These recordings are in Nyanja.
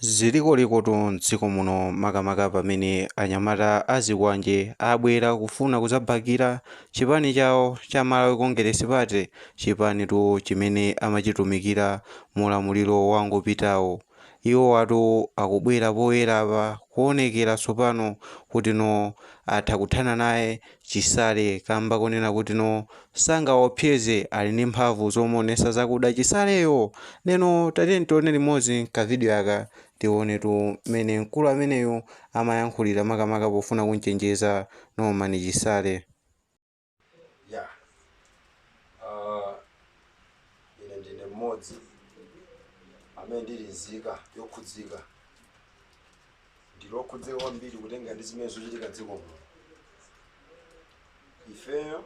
zilikolikoti m'dziko muno makamaka pamene anyamata a zikwanje abwera kufuna kudzabakira chipani chawo cha Malawi Congress Party, chipanitu chimene amachitumikira mu ulamuliro wangopitawo. Iwowatu akubwera poyera apa kuonekera tsopano kuti no atha kuthana naye chisale kamba konena kuti no sangawaopseze ali ndi mphamvu zomuonesa zakuda chisaleyo ndiyeno tatiyeni tione limodzi ka video aka tionetu mmene mkulu ameneyu amayankhulira makamaka pofuna kumchenjeza Norman chisale yeah. uh, ine ndine mmodzi amene ndili nzika yokhudzika ndili okhudzika kwambiri kutengera ndi zimene zochitika dziko muno ifeyo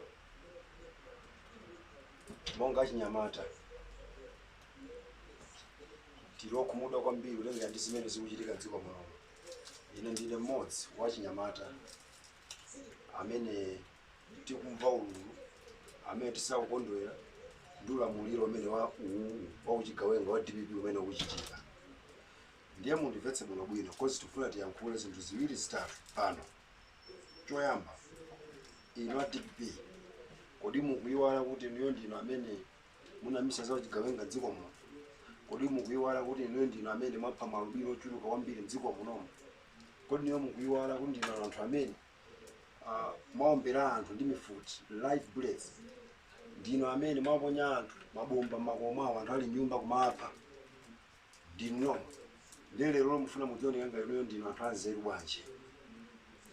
monga achinyamata tili okhumudwa kwambiri kutengera ndi zimene zikuchitika dziko muno ine ndine mmodzi wa achinyamata amene tikumva ululu amene tisakukondwera ndi ulamuliro umene wa uwu wa uchigawenga wa dpp umene ukuchitika ndiye mundimvetse bwinobwino coz tikufuna tiyankhule zinthu ziwiri zitatu pano choyamba inu a dpp kodi mukuyiwala kuti inuyo ndinu amene munayambitsa za uchigawenga mdziko muno kodi mukuyiwala kuti inuyo ndinu amene mwapha maalubino ochuluka kwambiri mdziko munomo kodi inuyo mukuyiwala kuti ndinu anthu amene ah, mwaombera anthu ndi mifuti live bullets ndinu amene mwaponya anthu mabomba mmakomo awo anthu ali nyumba kumapha ndinu ndiye lero mufuna mudzioneka ngati inuyo ndinu anthu anzeru bwanji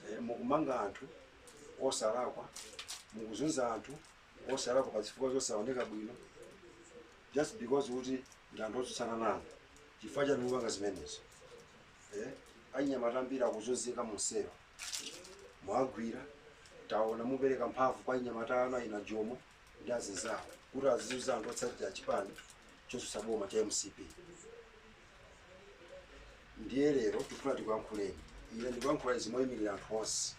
e, mukumanga anthu osalakwa mukuzunza anthu osalakwa pa zifukwa zosaoneka bwino just because kuti ndi anthu otsutsana nanu chifukwa chani mukupanga zimenezo eh? anyamata ambiri akuzunzika mumsewu mwagwira taona mupereka mphamvu kwa anyamata anu aina jomo ndi azinzawo kuti azizunza anthu otsatira chipani chotsutsa boma cha mcp ndiye lero tikufuna tikuyankhuleni ine ndikuyankhula izi moyimirira anthu onse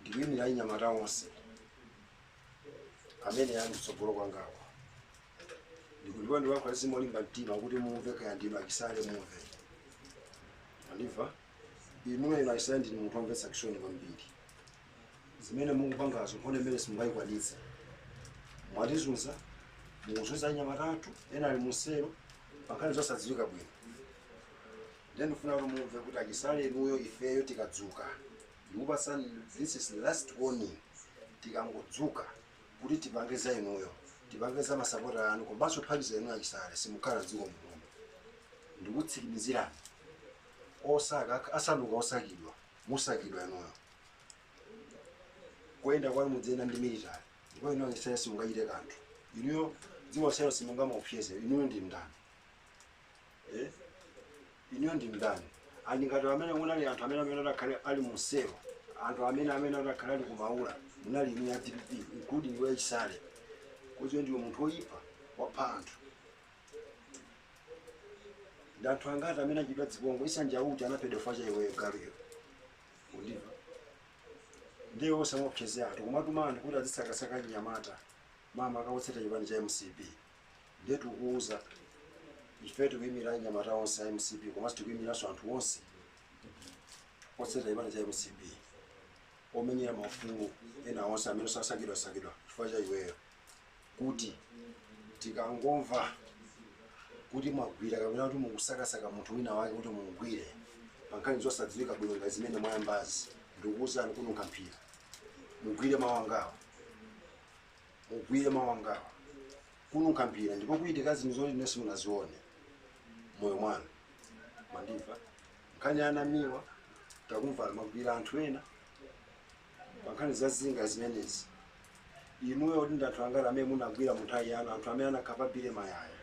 ndikuyimirira anyamata onse amene ali kutsogolo kwangawo ndikuliwa ndiyankhula izi molimba mtima kuti mumve kaya ndinu achisale mumve andimva inuyo inu achisale ndinu munthu omvetsa chisoni kwambiri zimene mukupangazo nkhondo imene simungayikwanitse mwatizunza mukuzunza anyamata athu ena ali muselo pankhani zosadziwika bwino ndiye ndifuna kuti mumve kuti achisale inuyo ifeyo tikadzuka ndikupatsani this is last warning tikangodzuka kuti tipange za inuyo tipange za masapota anu komanso mphamvu za inuyo achisale simukhala dziko muno ndikutsikimizirani osaka asanduka osakidwa musakidwa inuyo koyenda kwanu mudziyenda ndi military ndipo inu achisale simungachite kanthu inuyo dziko lonselo simungamuopseze inuyo ndi ndani eh? inuyo ndi ndani anthu angati amene munali anthu amene amene adakhale ali muselo anthu amene amene adakhale ali kumaula munali inu a dpp including iwe chisale udziwe ndiwe munthu woyipa wapha anthu ndi anthu angati amene achitidwa zipongwe issa njauju anaphedwa chifukwa cha iweyo galuyo kundimva ndiye usamaopseze anthu kumatuma anthu kuti azisakasaka anyamata makamaka otsata chipani cha mcp ndiye tikuwuza ife tikuyimira anyamata onse a mcp komanso tikuyimiranso anthu onse otsata chipani cha mcp omenyera maufulu ena onse amene asakidwasakidwa chifukwa cha iweyo kuti tikangomva kuti mwagwira kapena kuti mukusakasaka munthu wina wake kuti mumgwire pa nkhani zosadziwika bwino ngati zimene mwayambazi ndikukuwuzani kununkha mphira mugwire mawu angawa mugwire mawu angawa kununkha mphira ndipo kuchitika zinthu zoti inu simunazione mmoyo mwanu mwandimva nkhani ya a namiwa takumva mwagwira anthu ena pa nkhani za zinga zimenezi inuyo kuti ndi anthu angati amene munagwira mu nthawi yanu anthu amene anakhapa billy mayaya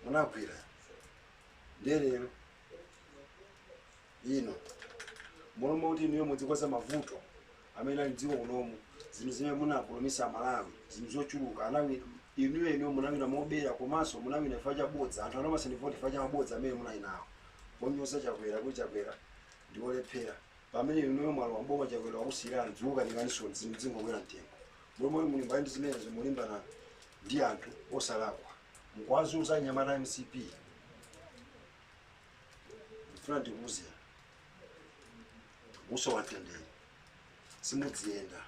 munagwira ndiye lero ino mmalo mwakuti inuyo mudzikonza mavuto amene ali dziko unomu zinthu zimene munapromisa amalawi zinthu zochuluka anawina inuyo inuyo munawina mobera komanso munawina chifukwa cha bodza anthu anakupatsani voti chifukwa cha mabodza amene munali nawo ponyoza chakwera kuti chakwera ndiwolephera pamene inuyo mwalowa m'boma chakwera wakusiyirani zikukukanikaninso zinthu zingokwera mtengo mmalo moti mulimbane ndi zimenezo mulimbana ndi anthu osalakwa mukuwazunza anyamata a mcp ndifuna ndikuuze musowa mtendere simudziyenda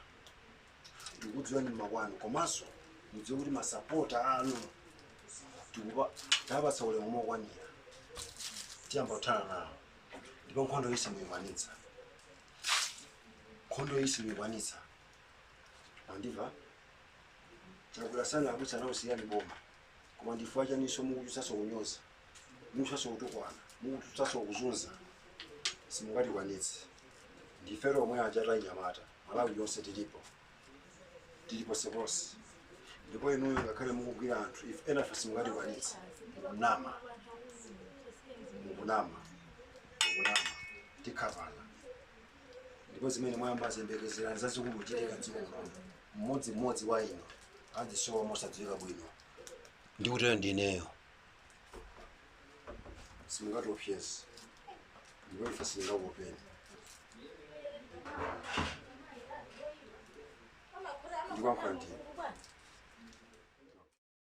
ndikudziwani mmakwanu komanso mudziwe kuti masapota anu tikupa tapatsa ulemu mokwanira tiyamba kuthana nawo ndipo nkhondo iyi simuyikwanitsa nkhondo iyi simuyikwanitsa andimva achakwera sanakuwuzeni siyani boma koma ndifukwa chani mukuchotsanso kunyoza mukuchotsanso kutukwana mukuchotsanso kuzunza simungatikwanitse ndife omwe aja tanyamata malawi yonse tilipo tili ponseponse ndipo inuyo ngakhale mukugwira anthu ife nafe simungatikwanitse nama mukunama mukunama tikhavana ndipo zimene mwayamba ziyembekezerani zazikulu kuchitika mdziko muno mmodzimmodzi wa inu adzisowa mosadziwika bwino ndikutero ndineyo simungatiopseze ndipo ife sitingakuopeni ndikuyankhula ndine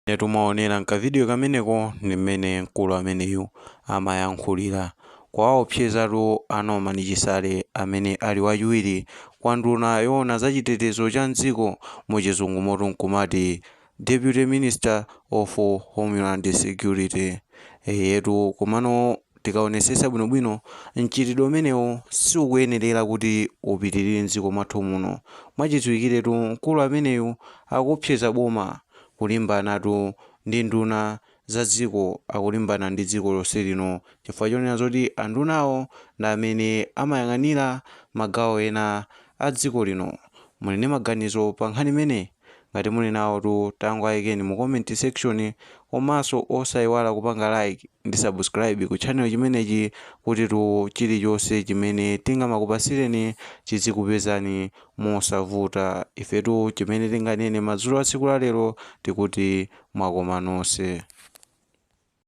eyetu mwaonera mkavidiyo kameneko ndi mmene mkulu ameneyu amayankhulira kuwaopsezatu a Norman Chisale amene ali wachiwiri kwa nduna yoona za chitetezo cha mdziko muchizungu motu nkumati Deputy Minister of Homeland Security, eyetu komano tikaonesesa bwino bwino mchitidwe umenewu siukuyenerera kuti upitirire mdziko mwathu muno. Mwachidziwikiretu mkulu ameneyu akuopseza boma kulimbanatu ndi nduna zadziko akulimbana ndi dziko lonse lino chifukwa chonena zoti andunawo ndi amene amayang'anira magawo ena a dziko lino. Muli ndi maganizo pa nkhani imeneyi? Ngati muli nawotu tangoayikeni mu comment section komanso osaiwala kupanga like ndi subscribe ku channel chimenechi kutitu chilichonse chimene tingamakupatsireni chidzikupezani mosavuta. Ifetu chimene tinganene madzulo a tsiku la lero tikuti wakwana nonse.